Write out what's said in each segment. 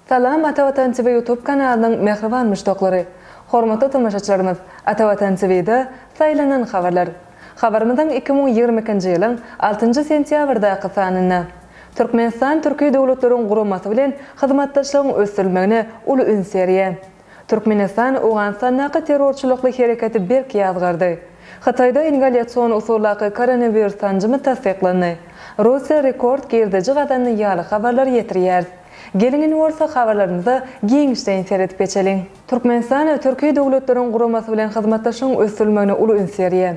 Salam Ata Watan TV YouTube kanalynyň mähriban muşdaklary! Hormatly tomaşaçylarymyz, Ata Watan TV-de Saýlanan habarlar! Habarymyzyň iki müň ýigrimi ikinji ýylyň altynjy sentýabrdaky sanynda, Türkmenistan Türki Döwletleriň Guramasy bilen hyzmatdaşlygyň ösdürilmegine uly üns berýär. Türkmenistan Owganystandaky terrorçylykly hereketi berk ýazgardy. Hytaýda ingalýasion usuldaky koronawirus sanjymy tassyklandy. Russiýa rekord girdeji gazandy ýaly habarlary ýetirýäris. Geliň indi bolsa habarlarymyza giňişleýin seredip geçeliň. Türkmenistan Türki Döwletleriň Guramasy bilen hyzmatdaşlygyň ösdürilmegine uly üns berýär.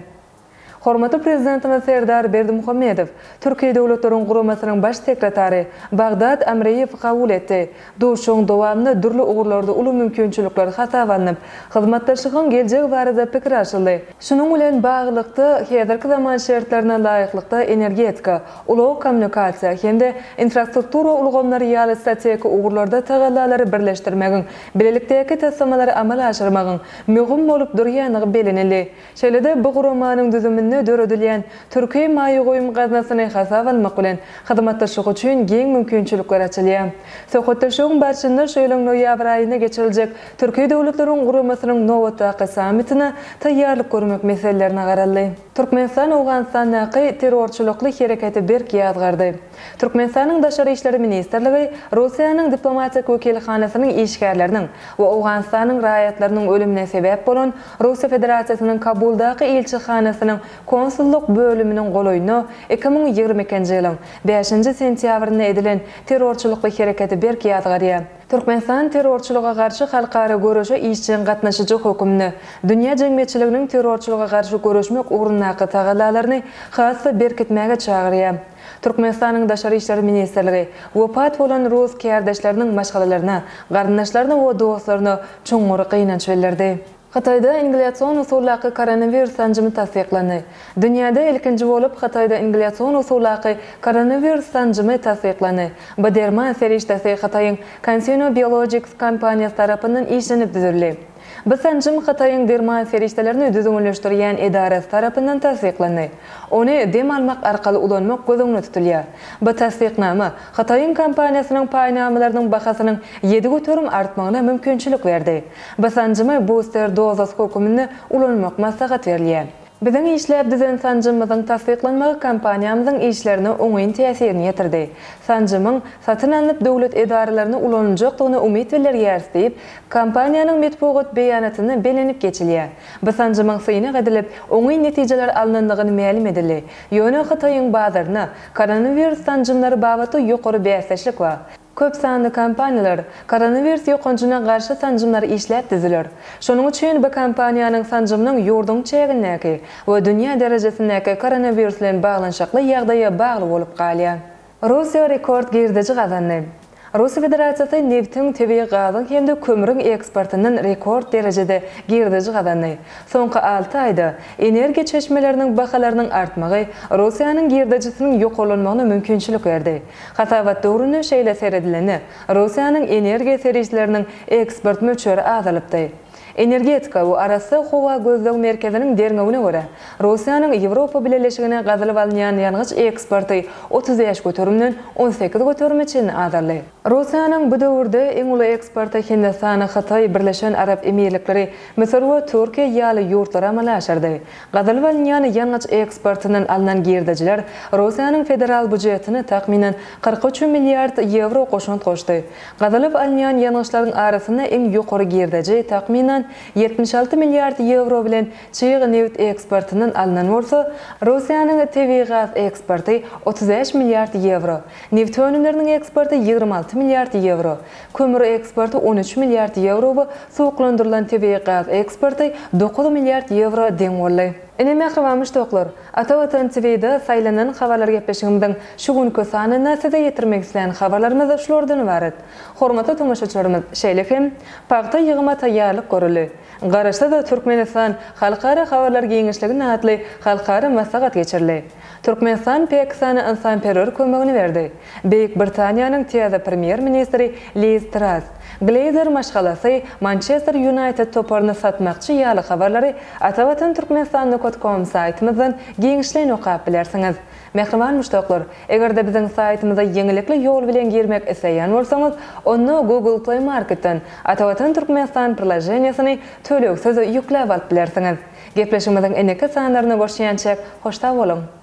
Hormatly Prezidentimiz Serdar Berdimuhamedow Türki Döwletleriň Guramasynyň Baş sekretary Bagdad Amreýewi kabul etdi. Duşuşygyň dowamynda dürli ugurlarda uly mümkinçilikler hasaba alnyp, hyzmatdaşlygyň geljegi barada pikir alşyldy. Şunuň bilen baglylykda, häzirki zaman şertlerine laýyklykda energetika, ulag-kommunikasiýa hem-de infrastruktura ulgamlary ýaly strategik ugurlarda tagallalary birleşdirmegiň, bilelikdäki taslamalary amala aşyrmagyň möhüm bolup durýandygy bellenildi. Şeýle-de, bu guramanyň düzüminde döredilýän Türki maýa goýum gaznasyny hasaba almak bilen, hyzmatdaşlyk üçin giň mümkinçilikler açylýar. Söhbetdeşligiň barşynda şu ýylyň noýabr aýynda geçiriljek Türki döwletleriň guramasynyň nobatdaky sammitine taýýarlyk görmek meselelerine garaldy. Türkmenistan Owganystandaky terrorçylykly hereketi berk ýazgardy. Türkmenistanyň Daşary işler ministrligi Russiýanyň diplomatik wekilhanasynyň işgärleriniň we Owganystanyň raýatlarynyň ölümine sebäp bolan Russiýa Federasiýasynyň Kabuldaky ilçihanasynyň konsullyk bölüminiň golaýynda iki müň ýigrimi ikinji ýylyň bäşinji sentýabrynda edilen terrorçylykly hereketi berk ýazgarýar. Türkmenistan terrorçylyga garşy halkara göreşe işjeň gatnaşyjy hökmünde, dünýä jemgyýetçiliginiň terrorçylyga garşy göreşmek ugrundaky tagallalaryny has-da berkitmäge çagyrýar. Türkmenistanyň Daşary işler ministrligi wepat bolan rus kärdeşleriniň maşgalalaryna, garyndaşlaryna we dostlaryna çuňňur gynanç bildirdi. Hytaýda ingliasion usuldaky koronawirus sanjymy tassyklandy. Dünýäde ilkinji bolup Hytaýda ingliasion usuldaky koronawirus sanjymy tassyklandy. Bu derman serişdesi Hytaýyň CanSinoBiologics kompaniýasy tarapyndan işlenip düzüldi. Bu sanjym Hytaýyň derman serişdelerini düzgünleşdirýän edarasy tarapyndan tassyklandy. Ony dem almak arkaly ulanmak göz öňünde tutulýar. Bu tassyknama Hytaýyň kompaniýasynyň paýnamalarynyň bahasynyň ýedi göterim artmagyna mümkinçilik berdi. Bu sanjymy buster dozasy höküminde ulanmak maslahat berilýär. Biziň işläp düzen sanjymymyzyň tassyklanmagy kompaniýamyzyň işlerine oňyn täsirini ýetirdi. Sanjymyň satyn alnyp döwlet edaralaryna ulanyljakdygyna umyt bildirýäris diýip, kompaniýanyň metbugat beýanatynda bellenip geçilýär. Bu sanjymyň synag edilip, oňyn netijeler alnandygyny mälim edildi. Ýöne Hytaýyň bazaryna koronawirus sanjymlary babatda ýokary bäsdeşlik bar. Köp sanly kompaniýalar koronawirus ýokanjyna garşy sanjymlary işläp düzüler. Şonuň üçin bu kompaniýanyň sanjymynyň ýurduň çägindäki we dünýä derejesindäki koronawirus bilen baglanyşykly ýagdaýa bagly bolup galýar. Russiýa rekord girdeji gazandy. Russiýa Federasiýasy nebtiň, tebigy gazyň hem-de kömrüň eksportyndan rekord derejede girdeji gazandy. Soňky alty aýda energiýa çeşmeleriniň bahalarynyň artmagy Russiýanyň girdejisiniň ýokarlanmagyna mümkinçilik berdi. Hasabat döwrüne şeýle seredilende, Russiýanyň energiýa serişdeleriniň eksport möçberi azalypdy. Energetika we arassa howa gözleg merkeziniň derňewine görä, Russiýanyň Ýewropa Bileleşigine gazylyp alynýan ýangyç eksporty otuz bäş göterimden on sekiz göterime çenli azaldy. Russiýanyň bu döwürde iň uly eksporty Hindistan, Hytaý, Birleşen Arap Emirlikleri, Müsür we Türkiýe ýaly ýurtlar amala aşyrdy. Gazylyp alynýan ýangyç eksportyndan alnan girdejiler Russiýanyň federal býujetine takmynan kyrk üç milliard ýewro goşant goşdy. Gazylyp alynýan ýangyçlaryň arasynda iň ýokary girdeji, takmynan, ýetmiş alty milliard ýewro bilen çig nebit eksportyndan alnan bolsa, Russiýanyň tebigy gaz eksporty otuz bäş milliard ýewro, nebit önümleriniň eksporty ýigrimi alty milliard ýewro, Kömür eksporty on üç milliard ýewro we suwuklandyrylan tebigy gaz eksporty dokuz milliard ýewro deň boldy. Ine mähriban muşdaklar, Ata Watan TVda saýlanan habarlar gepleşigimiziň şu günki sanynda size ýetirmek isleýän habarlarymyz şulardan ybarat. Hormatly tomaşaçylarymyz, şeýle hem Pagta ýygyma taýýarlyk görüldi. Garaşsyz Türkmenistan halkara habarlar giňişliginde atly halkara maslahat geçirildi. Türkmenistan pek sany ynsanperwer kömegini berdi. Beýik Britaniýanyň täze premýer-ministri Liz Tras, Gleýzer maşgalasy Mançester Ýunaýted toparyny satmakçy ýaly habarlary Atavatan Turkmenistannukat kom saýtymyzdan giňişleýin okap bilersiňiz. Mähriban muşdaklar, eger-de biziň saýtymyza ýeňillikli ýol bilen girmek isleýän bolsaňyz, onda Google Play Marketden Atavatan Turkmenistan priloženiýesini tölegsiz ýükläp alyp bilersiňiz. Gepleşigimiziň indiki sanlaryna görşýänçäk, hoş sag boluň!